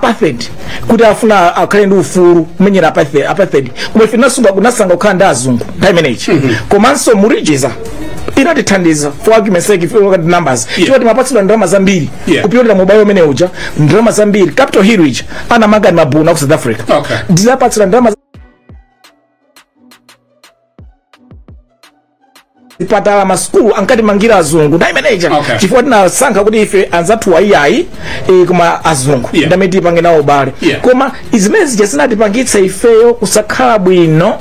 apartheid kuti afuna akhale ndi ufulu kumenyera apartheid apartheid. koma ife tinasankha kunasankha kukhala ndi azungu nthawi imeneyi komanso mu regards inatithandiza for argument's sake if you look at the numbers chifukwa timapatsidwa ndalama zambiri Yeah. kupyolera mu ubale umene uja ndalama zambiri capital hill ija anamanga ndi mabunu aku south africa Okay. tinapatsidwa ndalama zipatala masukulu ankatimangira azungu nthawi imene ija Okay. chifukwa tinasankha kuti ife anzathu ayiayi e, koma azungu Yeah. ndi amene tipange nawo ubale Yeah. koma zimene zija zinatipangitsa ifeyo kusakhala bwino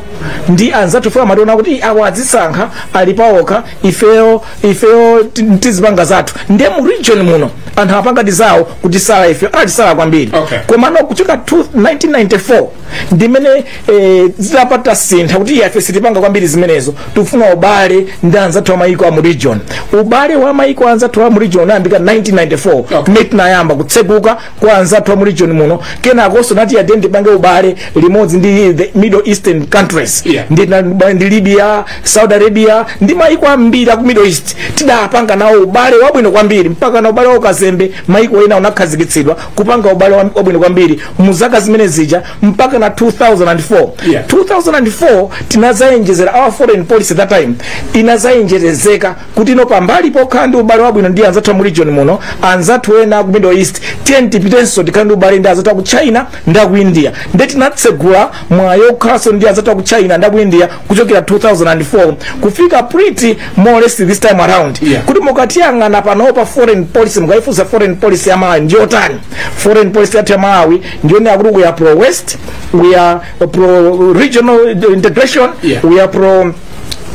ndi anzathu chifukwa amationa kuti "Ih, awa adzisankha ali paokha ifeyo ifeyo ti- tizipanga zathu nde mu region muno anthu apanga tizawo kutisala ife anatisala kwambiri Okay. komano kuchoka mu 1994 ndimene eh, zidapita zasintha kuti ife sitipanga kwambiri zimenezo tikufuna ubale ndi anzathu a mayiko a mu region ubale wa mayiko a anzathu a mu region unayambika 1994 Okay. kumene tinayamba kutseguka kwa anzathu a mu region muno kenakonso tinati iyayi tipange ubale limodzi ndi the middle eastern countries Yeah. ndi, na- ba- ndi libya saudi arabia ndi mayiko ambiri aku middle east tidapanga nawo ubale wabwino kwambiri mpaka na ubale wa ukazembe mayiko ena unakhazikitsidwa kupanga ubale wa- wabwino kwambiri mu zaka zimene zija mpaka na 2004 Yeah. 2004 tinazayenjezera our foreign policy that time inazayenjerezeka kuti no pambali pokhala ndi ubale wabwino ndi anzathu amu region muno anzathu ena ku middle east tiyeni tipitenso tikhale ndi ubale ndi anzathu aku china ndi aku india nde tinatsegula mwayi wokhalanso ndi anzathu aku china ndi aku india kuchokera 2004 kufika pretty more or less this time around Yeah. kuti mukatiyang'ana panopa foreign policy mukaifunsa foreign policy ya malawi ndiyotani foreign policy yathu ya malawi ndiyonena kuti we are pro west we are pro regional integration Yeah. we are pro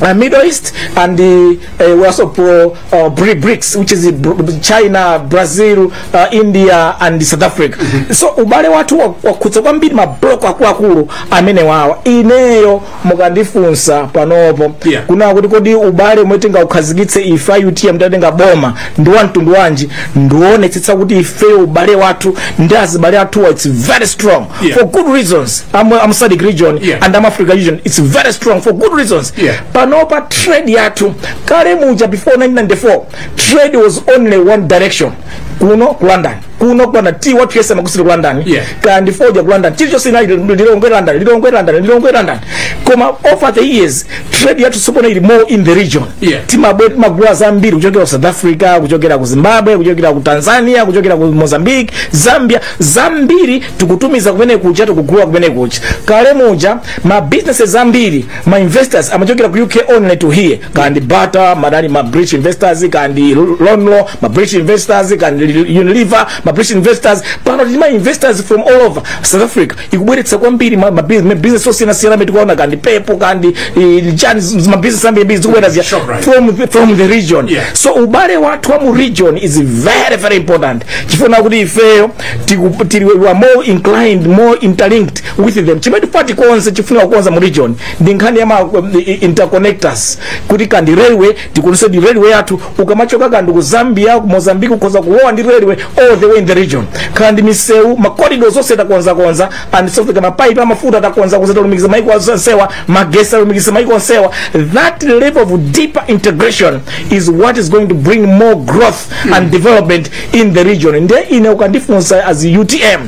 uh, middle east and uh, uh, we are also pro uh, Bri- BRICS which is Br- China, Brazil, uh, India and South Africa. So ubale wathu wa- wakhudza kwambiri mabloko akuluakulu amene wawa. Ineyo mukandifunsa panopo Yeah. kunena kuti kodi ubale umwe tingaukhazikitse ife utm titatenga boma ndi wa mtundu wanji ndionetsetsa kuti ifeyo ubale wathu ndi azibale athuwa its very strong Yeah. for good reasons am, am sadic region Yeah. and am africa region its very strong for good reasons Yeah. panopa trade yathu kale muja before 1994 trade was only one direction kuno ku london kuno kupanda tea wathu yense amagulitsidwa ku london Yeah. kaya ndi foja ku london chilichonse inali lilongwe london lilongwe london lilongwe london koma over the years trade yathu tsopano ili more in the region Yeah. Zimbabwe timagula zambiri kuchokera ku south africa kuchokera ku zimbabwe kuchokera ku tanzania kuchokera ku mozambique zambia zambiri tikutumiza kumene kuja tikugula kumene kuja kale muja ma businesses ambiri ma investors amachokera ku uk only to here kandi bata madani ma british investors kandi lonlo ma british investors kandi unilever ma british investors pano tili ma investors from all over south africa ikubweretsa kwambiri ma, ma, bus- ma business osiyanasiyana amene tikuona kandi pepo kandi eh, chani z- ma business ambiri ambiri zikubwera ziya Shoprite. from, from the region Yeah. so ubale wathu wa mu region is very very important chifuna kuti ifeyo tiku- tili we are more inclined more interlinked with them chimene tifuna tikonze tifuna kukonza mu region ndi nkhani ya ma um, i- i- interconnectors kuti kaya ndi railway tikonze ndi railway yathu ukamachoka kaya ndi ku zambia ku mozambique ukhoza kulowa ndi railway all the way in the region kaya ndi misewu ma corridors onse takonzakonza and so kaya mapaipi amafuta takonzakonza talumikiza maiko onsewa magesi talumikiza maiko onsewa that level of deeper integration is what is going to bring more growth and development in the region nde ine ukandifunsa as utm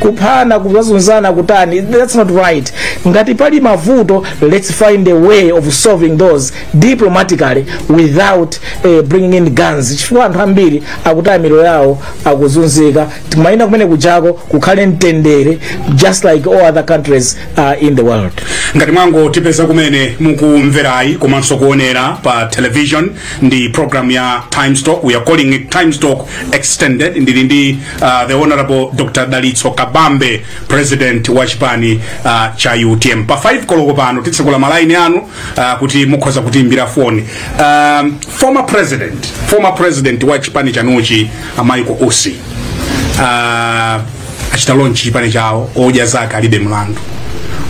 kuphana kuzunzana kutani that's not right ngati pali mavuto let's find a way of solving those diplomatically without eh, bringing in guns chifukwa anthu ambiri akutaya miyoyo yawo akuzunzika timafuna kumene kujako kukhale mtendere just like all other countries uh, in the world ngati mwango tipeza kumene mukumverayi komanso kuonera pa television ndi program ya times talk we are calling it times talk extended ndili ndi uh, the honorable dr dalitso kabambe president wa chipani uh, cha utm pa 5 koloko pano titsekula malaini anu uh, kuti mukhoza kutiimbira foni um, former president former president wa chipani chanuchi a Michael Usi uh, achita launch chipani chawo odya zake alibe mlandu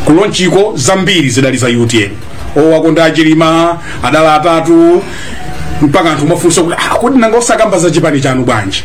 ku launch-ko zambiri zidali za utm owakonda achilima adala atatu mpaka anthu mafunso kuti ah, kodi nanga osakamba za chipani chanu bwanji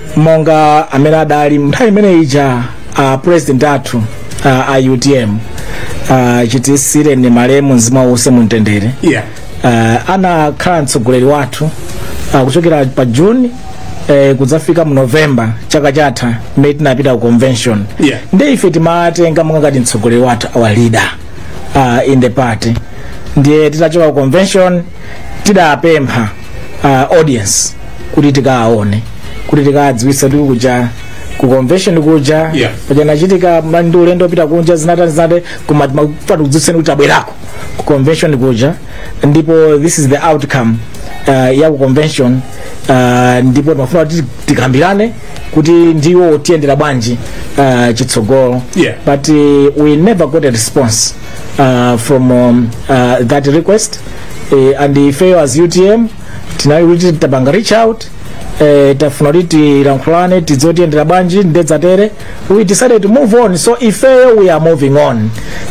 monga amene adali nthawi imene ija a president athu uh, a utm uh, chitisireni malemu mzimu wawo uwuse mumtendere yeah. uh, anakhala mtsogoleri wathu uh, kuchokera pa june eh, kudzafika mu november chaka chatha mmene tinapita ku convention Yeah. ndi ife timawatenga monga ngati mtsogoleri wathu our leader uh, in the party ndiye titachoka ku convention tidapempha uh, audience kuti tikawaone kuti tikawadziwitse kuti kuja ku convention kuja Yeah. paja nachitika ma- ndi ulendo opita kunja zinatani zinatani koma timafuna tikudziwitseni kuti tabwerako ku convention kuja ndipo this is the outcome uh, ya ku convention uh, ndipo timafuna kuti tikambirane kuti ndiye tiyendera bwanji uh, chitsogolo Yeah. but uh, we never got a response uh, from um, uh, that request uh, and ifeyo as utm tinali kuti tapanga reach out uh, tafuna kuti tilankhulane tidziwe tiyendera bwanji ndiye zitatere we decided to move on so ifeyo we are moving on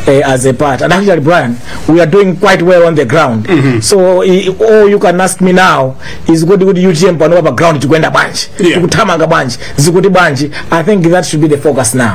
uh, as a party and actually brian we are doing quite well on the ground mm -hmm. so i, all you can ask me now is kuti kuti utm panopa pa ground tikuyenda bwanji Yeah. tikuthamanga bwanji zikuti bwanji i think that should be the focus now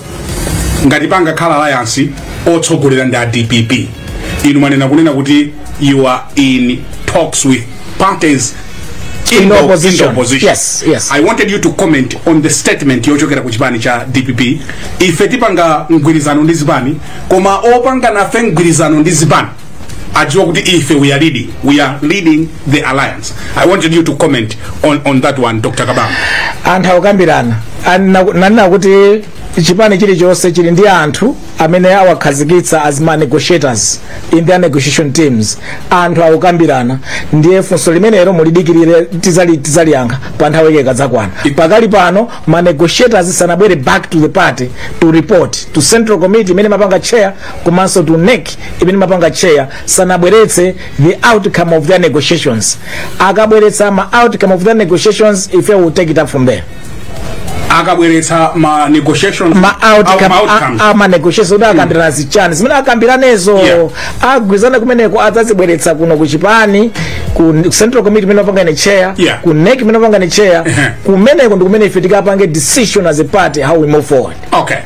ngati pangakhale alliance otsogolera ndi a dpp inu mwanena kunena kuti you are in talks with parties In the opposition. opposition. Yes, yes. i wanted you to comment on the statement yochokera ku chipani cha dpp ife tipanga mgwirizano ndi zipani koma opanga nafe mgwirizano ndi zipani adziwa kuti ife we are leading we are leading the alliance i wanted you to comment on, on that one dr kabambe anthu akukambirana ndi- ndanena kuti chipani chilichonse chili ndi anthu amene awakhazikitsa as ma negotiators in their negotiation teams anthu akukambirana ndiye funso limenelo mulidikirire tidzali tidzaliyankha pa nthawi yake ikadzakwana pakali pano ma negotiators sanabwere back to the party to report to central committee imene ndimapanga chair komanso to nec imene ndimapanga chair sanabweretse the outcome of their negotiations akabweretsa ma outcome of their negotiations ife we'll take it up from there akabweretsa ma negotiations ma outcome out- ma outcomes. a- a- ma negotiations kuti akambirana zichani zimene akambiranezo Yeah. agwirizana kumeneko adzazibweretsa kuno ku chipani ku ku central committee imene ndimapanga ine chair Yeah. ku nec imene ndimapanga ine chair Ehe. kumeneko ndi kumene ife tikapange decision as a party how we move forward okay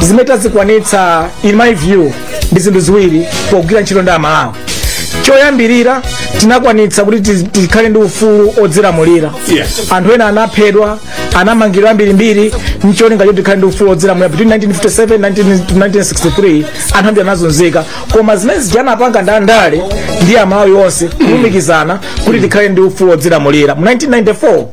zimene tazikwanitsa in my view ndi zinthu ziwiri pogwira ntchito ndi amalawi choyambirira tinakwanitsa kuti tiz- tikhale ndi ufulu odzilamulira Yeah. anthu ena anaphedwa anamangidwa ambirimbiri ncholinga choti tikhale ndi ufulu odzilamulira between 1957 19 to 1963 anthu ambiri anazunzika koma zimene zija anapanga ndi andale ndi amalawi onse kulumikizana kuti tikhale ndi ufulu odzilamulira mu 1994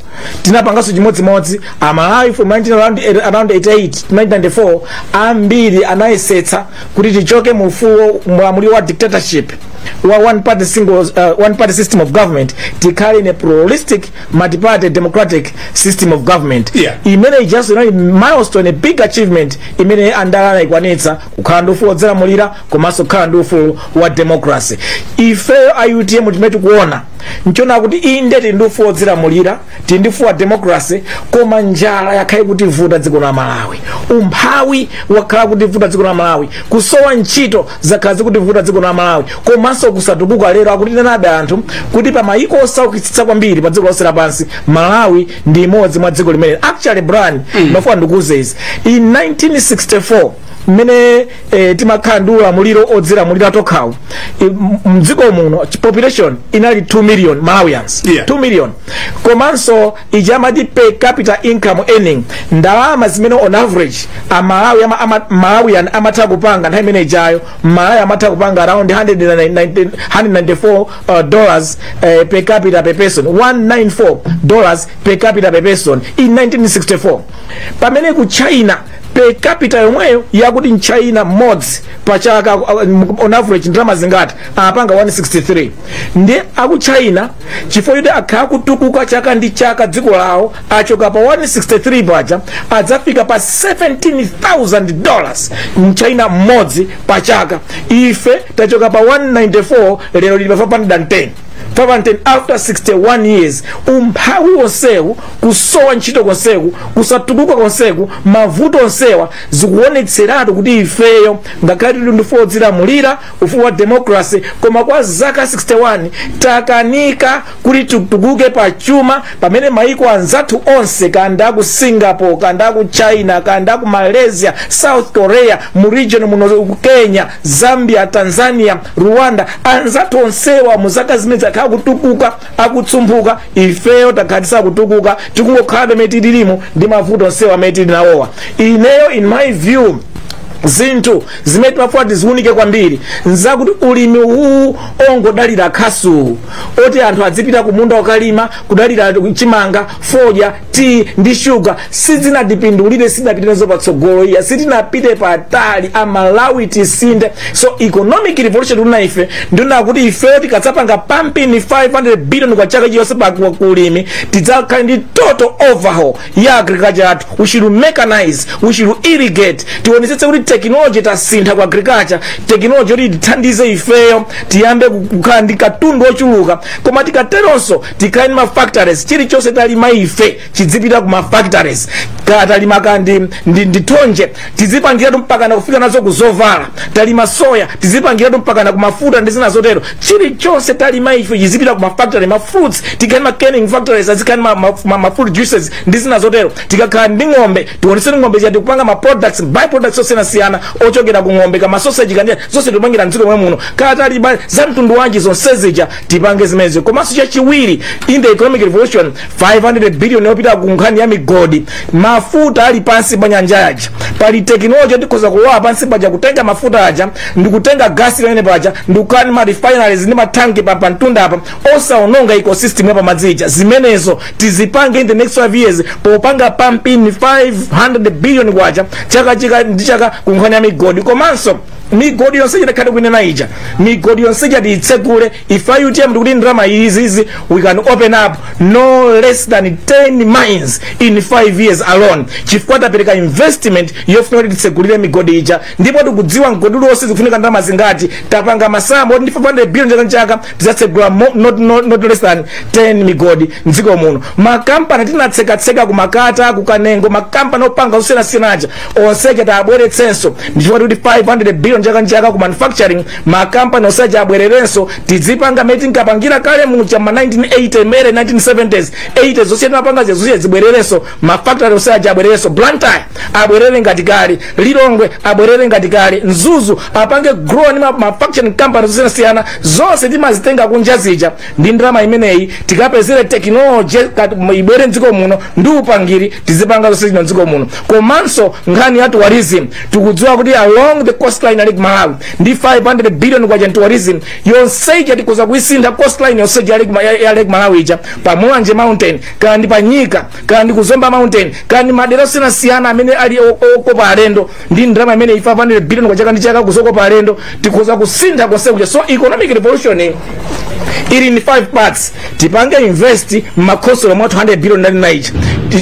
tinapanganso chimodzimodzi amalawi from 19 around, around 88 to 1994 ambiri anayesetsa kuti tichoke mu ufulu mu ulamuliro wa dictatorship wa one party, single, uh, one party system of government tikhale in a pluralistic multiparty democratic system of government Yeah. imene ijanso inali milestone a big achievement imene andale anayikwanitsa kukhala ndi ufulu wodzilamulira komanso kukhala ndi ufulu wa democracy ifeyo a utm chimene tikuona nchonena kuti inde tili ndi ufulu wodzilamulira tili ndi ufulu wa democracy koma njala yakhala ikutivuta dziko la malawi umphawi wakhala ukutivuta dziko la malawi kusowa ntchito zakhala zikutivuta dziko la malawi komanso kusatukuka lero akutinenabe anthu kuti pa mayiko osaukitsitsa kwambiri pa dziko lonse lapansi malawi ndi imodzi mwa dziko limene actually brian mm. ndimafuna ndikuuze izi in 1964 mmene e, timakhala ndi ulamuliro odzilamulira tokhawu E, m- mdziko muno ch- population inali 2 million malawians Yeah. 2 million komanso ija amati per capita income earning ndalama zimene on average amalawi ama, ama, malawian amatha kupanga nthawi imene ijayo malawi amatha kupanga around 190 194 uh, dollars uh, per capita per person 194 dollars per capita per person in 1964 pamene ku china per capita yomweyo yakuti mchina mmodzi pa chaka uh, on average ndalama zingati apanga 163 ndiye aku china chifukwa choti akhala akutukuka chaka ndi chaka dziko lawo achoka pa 163 paja adafika pa 17000 dollars mchina mmodzi pa chaka ife tachoka pa 194 lero tili pa 510 510 after 61 years umphawi wonsewu kusowa ntchito konseku kusatukuka konseku mavuto onsewa zikuonetseratu kuti ifeyo ngakhale tili ndi ufulu wodzilamulira ufulu wa democracy koma kwa zaka 61 takanika kuti titukuke pa chuma pamene maiko anzathu onse kaya ndi ku singapore kaya ndi ku china kaya ndi ku malaysia south korea mu region muno ku kenya zambia tanzania rwanda anzathu onsewa mu zaka zimenezi akhala akutukuka akutumphuka ifeyo takhala tisakutukuka tikungokhala pamene tilirimu ndi mavuto onsewa amene tili nawowa ineyo in my view zinthu zimene timafuna tiziwunike kwambiri nzakuti ulimi uwu ongodalira khasuwu oti anthu adzipita kumunda kukalima kudalira chimanga fodya tiyi ndi shuga sizinatipindulire sitinapite nazo patsogolo iya sitinapite patali amalawi tisinthe so economic revolution tikunena ife ndi yakuti ifeyo tikadzapanga pumping 500 billion kwa chaka chilichonse pa kwa kulimi tidzakhala ndi total overhaul ya agriculture yathu we should mechanize we should irrigate tionetsetse kuti technology tasintha ku agriculture technology yoti ithandize ifeyo tiyambe kukhala ndi katundu wochuluka koma tikateronso tikhale ndi mafactories chilichonse talima ife chidzipita ku mafactories kaya talima kaya ndi, ndi, ndi thonje tizipangiratu mpakana kufika nazo ku zovala talima soya tizipangiratu mpakana ku mafuta ndi zina zotero chilichonse talima ife chizipita ku mafactory ma fruits tikhale ma canning factories azikhale ma, ma, ma, ma fruit juices ndi zina zotero tikakhala ndi ng'ombe tionetsetse ng'ombe zija tikupanga ma products by products osiyanasiyana ochokera ku ng'ombe kaya ma sausage kaya ndi zonse tikupangira mdziko mwathu muno kaya talima za mtundu wanji zonse zija tipange zimenezo komanso chachiwiri in the economic revolution 500 billion yopita ku nkhani ya migodi mafuta ali pansi pa nyanja aja pali tekinoloji yoti tikhoza kulowa pansi paja kutenga mafuta aja ndi kutenga gasi ali mmenemo paja ndi kukhala ndi ma refineries ndi matanki pa pamtunda apa osaononga ecosystem ya pamadzi ija zimenezo tizipange in the next 5 years popanga pumping 500 billion kwacha chaka chaka ndi chaka ku nkhani ya migodi komanso migodi yonse yatakhala tikunena ija migodi yonse ija tiitsegule ife a utm tikuti ndalama izizi we can open up no less than 10 mines in 5 years alone chifukwa tapereka investment yofuna kuti titsegulire migodi ija ndipo tikudziwa mgodi uliwonse zikufunika ndalama zingati tapanga masamu oti ndi 500 billion chaka nchaka tizatsegula mo- not, not, not less than 10 migodi mdziko muno makampani tinatsekatseka ku makata ku kanengo makampani opanga zosiyanasiyana aja onseja tiwabweretsenso ndichifukwa kuti 500 billion chaka ndi chaka ku manufacturing makampani onseja abwererenso tidzipanga mmene tinkapangira kale muja ma 1980 mma late 1970s 80s zonse zija timapanga zija zonse zija zibwererenso mafactory onseja abwererenso blantyre abwerere ngati kale lilongwe abwerere ngati kale mzuzu apange grow ndi ma- manufacturing companies zosiyanasiyana zonse timazitenga kunja zija ndi ndalama imeneyi tikapezere technology ibwere mdziko muno ndi upangiri tizipanga zonsezi muno mdziko muno komanso nkhani ya tourism tikudziwa kuti along the coastline ya lake malawi ndi 500 billion kwa tourism yonse ija tikhoza kuisintha coastline yonse ija yali- ya- ya lake malawi ija pa mulanje mountain kaya ndi pa nyika kaya ndi kuzomba mountain kaya ndi madera osiyanasiyana amene ali o- okopa alendo ndi ndalama imene ya 500 billion kwa chaka ndi chaka kuzokopa alendo tikhoza kusintha konse kuja so economic revolution ili ni 5 parts tipange invest mmakhonsolo mwa 200 billion ndanena ija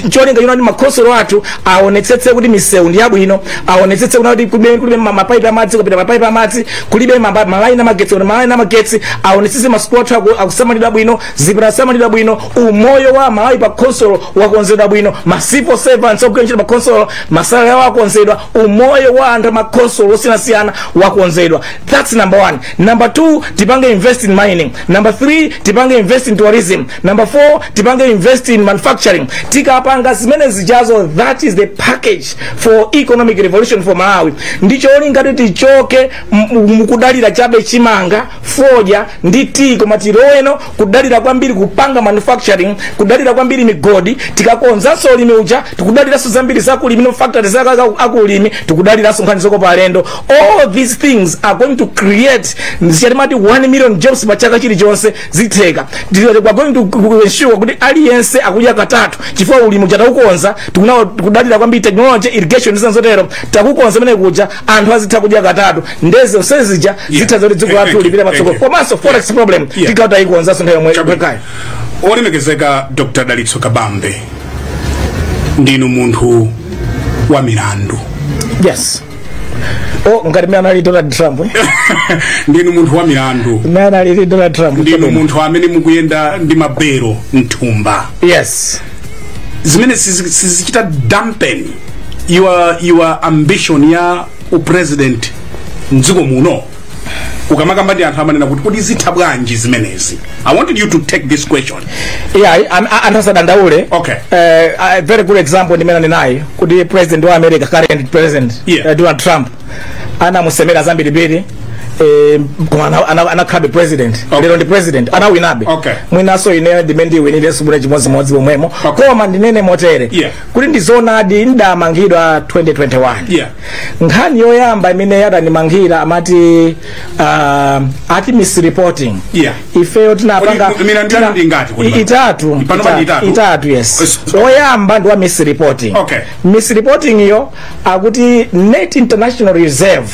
cholinga choti makhonsolo athu aonetsetse kuti misewu ndi yabwino aonetsetse kuna kuti kulibe kulibe ma- mapaipi amadzi kupite mapaipi amadzi kulibe mamba- malaini amagetsi kupite malaini amagetsi aonetsetse masukulu athu aku- akusamalidwa bwino zipatala zikusamalidwa bwino umoyo wa amalawi pa khonsolo wakonzedwa bwino ma civil servants ogwira ntchito pa khonsolo masalari awo akonzedwa umoyo wa anthu mmakhonsolo osiyanasiyana wakonzedwa thats number one number two tipange invest in mining number three tipange invest in tourism number four tipange invest in manufacturing tikapanga zimene zijazo that is the package for economic revolution for malawi ndi cholinga choti tichoke m- mukudalira chabe chimanga fodya ndi tea koma tiloweno kudalira kwambiri kupanga manufacturing kudalira kwambiri migodi tikakonzanso ulimi uja tikudaliranso zambiri za ulimi mafactories zaka za- za ulimi tikudaliranso nkhani zokopa alendo all these things are going to create zija timati 1 million jobs pa chaka chilichonse zitheka Tili- we are going to ku- ensure kuti aliyense akudya katatu chifukwa ulimi uja taukonza tikudalira kwambiri technology irrigation ndi zina zotero takukonza kumene kuja anthu azitha kudya katatu nde zonse zija zichititsa zoti dziko lathu lipita patsogolo komanso forex problem ikhala kuti taikonzanso nthawi yomweyo okay olemekezeka dr dalitso kabambe ndinu munthu wa milandu yes o ngati mmene anali donald trump eh? ndinu munthu wa milandu mmene anali donald trump ndinu munthu amene mukuyenda ndi mabelo mthumba yes zimene sizi- sizichita dampen your, your ambition ya upresident mdziko muno ukamakamba ndi anthu amanena kuti kodi zitha bwanji zimenezi i wanted you to take this question yeah I- I'm- I- anthu asadandaule Okay. Eh, a very good example ndi imene mwanenayi kuti president wa america current president Yeah. eh, donald trump anamusemera zambirimbiri eh, koma ana- ana- anakhalabe president lero ndi president anawinabe Okay. mwinanso ine ndiye ndiwinire si bule chimodzimodzi pomwemo Okay. koma ndinene motere Yeah. kuti ndizonadi ndamangidwa 2021 Yeah. nkhani yoyamba imene adandimangira amati uh, ati misreporting Yeah. ifeyo tinapanga Kodi milandu tina- yanu ndi ingati kodi? i- itatu Panopa ndi itatu. itatu yes Yes. oyamba ndi wa misreporting Okay. misreporting iyo akuti net international reserve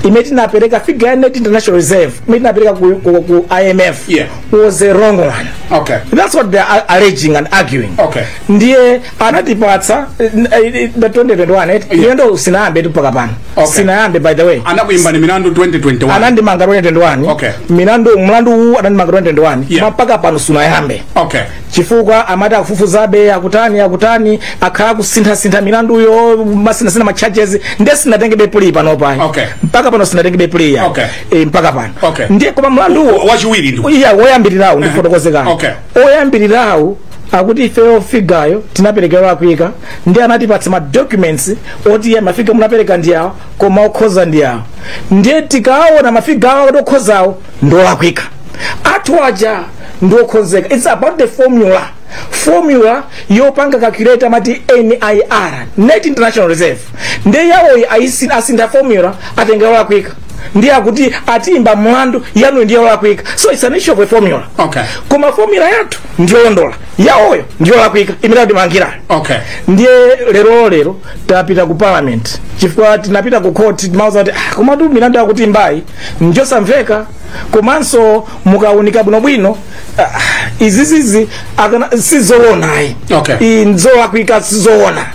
imene tinapereka figure ya net international reserve imene tinapereka ku, ku, ku imf Yeah. was a wrong one Okay. that's what they are alleging and arguing Okay. ndiye anatipatsa eh, eh, the 2021 eh, Yeah. milandu sinayambetu mpaka pano Okay. sinayambe by the way anakuimbani milandu 2021 anandimanga 2021 Okay. milandu mlandu uwu anandimanga 2021 Yeah. mpaka pano sunayambe okay chifukwa amati akufufuzabe akutani akutani akhala akusinthasintha milanduyo amasinthasintha ma charges ndiye sinatengebe plea pano pano Okay. mpaka pano sinatengebe plea ya Okay. e, mpaka pano Okay. ndiye koma mlanduwo wachiwiri ndi iya woyambirirawo ndifotokoze kaye Okay. oyambirirawo akuti ifeyo figayo tinapereka yo- akuyika ndiye anatipatsa ma documents oti iye mafiga munapereka ndi awo koma okhoza ndi awo ndiye tikaona mafiga awo akuti okhozawo ndolakwika athu aja ndi okhozeka its about the formula formula yopanga calculate amati nir net international reserve nde yawoyi ayisi- asintha formula atenga yolakwika ndiye akuti atiimba mlandu yanu ndi yolakwika so its an issue of a formula Okay. koma formula yathu ndiyolondola yawoyo ndiyolakwika imene atimangirayo okay ndiye lero lero tapita ku parliament chifukwa tinapita ku court timawauza kuti ah, komatu milandu akutiimbayi njosamveka komanso mukaunika bwinobwino ah, izizizi akana- sizoona ayi Okay. izi nzolakwika sizoona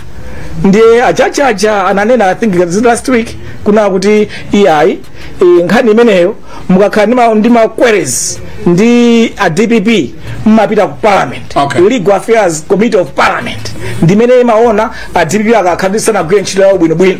ndiye a judge aja ananena i think this last week kunena kuti iyayi eh, nkhani imeneyo mukakhala ndi ma- ndi ma queries ndi a dpp mmapita ku parliament Okay. legal affairs committee of parliament ndimene imaona a dpp akakhala kuti sanagwire ntchito yawo bwinobwino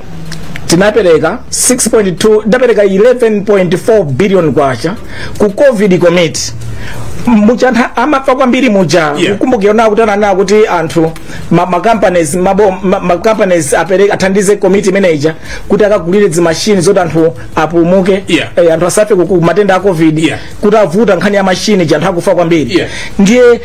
tinapereka 6.2 ndapereka 11.4 billion kwacha ku covid committee muja anthu amafa kwambiri muja Yeah. kukumbukira nawo kuti ananena kuti anthu ma, ma companies mabo ma, ma companies apereka athandize committee imene ija kuti akagulire dzimashini zoti anthu apulumuke Yeah. eh, anthu asafe ku- ku matenda a covid Yeah. kuti yavuta nkhani ya mashini ija anthu akufa kwambiri Yeah. ndiye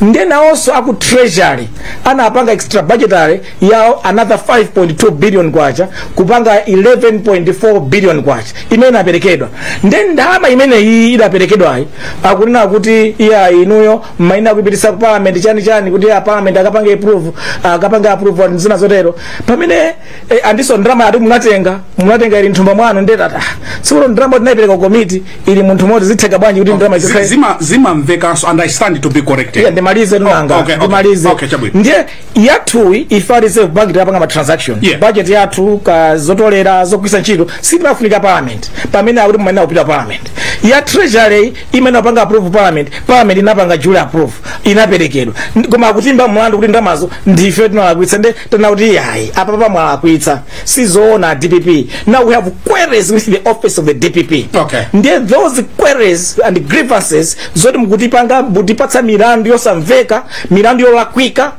nde nawonso aku treasury anapanga extra budgetary yawo another 5.2 billion kwacha kupanga 11.4 billion kwacha imene inaperekedwa nde ndalama imene iyi idaperekedwayi akunena kuti iya inuyo mayenera kuipititsa ku parliament chani chani kuti a parliament akapange approve akapange approve zina zotero pamene e, andiso ndalama yati munatenga munatenga ili nthumba mwanu ndiye tati sikuti ndalama tinayipereka ku komiti ili munthu moti zitheka bwanji kuti ndalama Zi- izikhale zima- zimamvekanso and i stand to be corrected Yeah, ndimalize tu nanga Oh, okay, okay. ndimalize Okay, chabwino. ndiye yathuyi ife a reserve bank tapanga ma transaction Yeah. budget yathu kaya zotolera zogwiritsa ntchito sitimafunika parliament pamene akuti mumanena kupita parliament ya treasury imene apanga approve parliament parliament inapanga kale approve inaperekedwa Ndi- koma akutimba mlandu kuti ndalamazo ndife tinalakwitsa nde tanena kuti yayi apapa mwalakwitsa sizoona a dpp now we have queries with the office of the dpp Okay. ndiye those queries and grievances zoti mukutipanga mutipatsa milandu yosamveka milandu yolakwika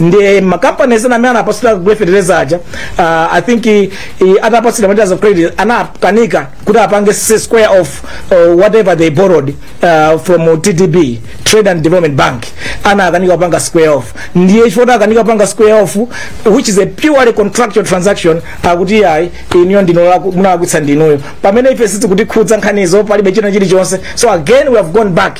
ndi makampani ena amene anapatsidwa kugula fertilizer aja uh, i think i, i, atapatsidwa letters of credit anakanika kuti apange s- square of uh, whatever they borrowed uh, from tdb trade and development bank anakanika kupanga square off ndiye chifukwa kuti akanika kupanga square off which is a purely contractual transaction akuti ayi inuyo ndinu munalakwitsa ndinuyo pamene ife sizikutikhudza nkhanizo palibe china chilichonse so again we have gone back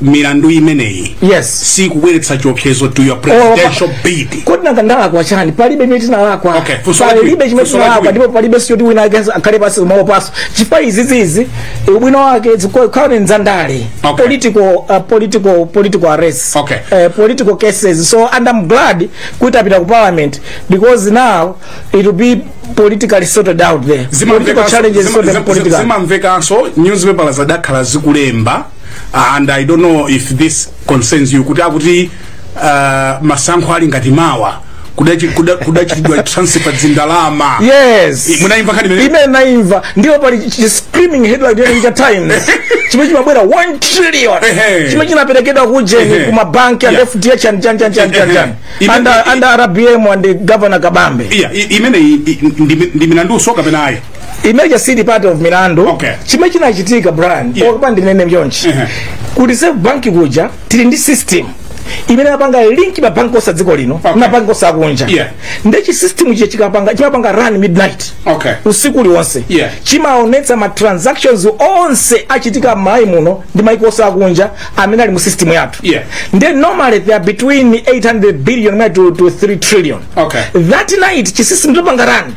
milandu imeneyi yes sikubweretsa chiopsezo to your presidential oh, bid kodi nanga ndalakwa chani palibe imene tinalakwa okay, palibe chimene tinalakwa ndipo palibe sichoti wina akhale pansi kumawopanso chifukwa izizizi ubwino wake zikukhala ndi zandale okay. political, uh, political, political arrest okay. uh, political cases so and I'm glad kuti apita ku parliament because now it will be politically sorted out there political challenges sorted politically zimamvekanso nyuzipepa zadakhala zikulemba and i don't know if this concerns you kuti akuti uh, masankho ali ngati mawa kudachi- kuda- kudachitidwa transfer zindalama yes I- munayimva nkhani imeneyo? ine ndinayimva ndipo pali chi- chi- screaming headline ya New Times chimene chimabwera 1 trillion Ehe. chimene chinaperekedwa kujeni Ehe. ku mabanki and Yeah. fdh and chan chan chan chan chan Ehe. under under rbm and governor kabambe iya i- imeneyi i- ndi ndi milandu usoka penalty imeja sili part of milandu Okay. chimene chinachitika brian Yeah. okay tandinene mchonchi Ehe. ku reserve bank kuja tili ndi system imene apanga link mabanki onse adziko lino Okay. mabanki onse akunja Yeah. nde chi system chija chikapanga chimapanga run midnight Okay. usiku uliwonse Yeah. chimaonetsa ma transactions onse achitika m'Malawi muno ndi maiko onse akunja amene ali mu system yathu Yeah. nde normally they are between 800 billion mwina to, to 3 trillion Okay. that night chisystem chikupanga run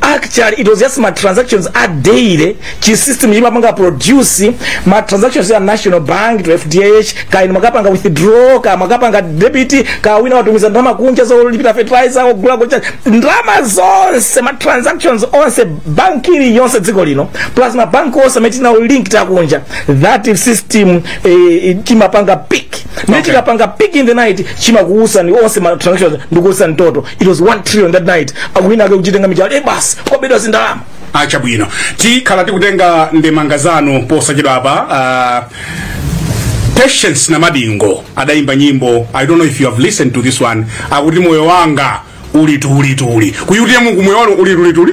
actually it was just ma transactions a daily chi system imapanga produce ma transactions ya national bank to fdh kaya inu mwakapanga withdraw kaya mwakapanga debit kaya wina watumiza ndalama kunja zolipira fertilizer ogula kunja ndalama zonse ma transactions onse bank iliyonse dziko lino plus ma bank onse amene tinawa link akunja that system eh, chimapanga pick ndiye Okay. chimapanga peak in the night chimakuuzani onse ma transactions ndikukuuzani total it was 1 trillion that night akuwina ake kuchitenga mijale basi kwabedwa zindalama ah chabwino tikhala tikutenga ndemanga zanu posachedwa apa uh, patience Namadingo adayimba nyimbo i don't know if you have listened to this one akuti moyo wanga uli tulituli kuthiya mungu moyo wanu uli tulituli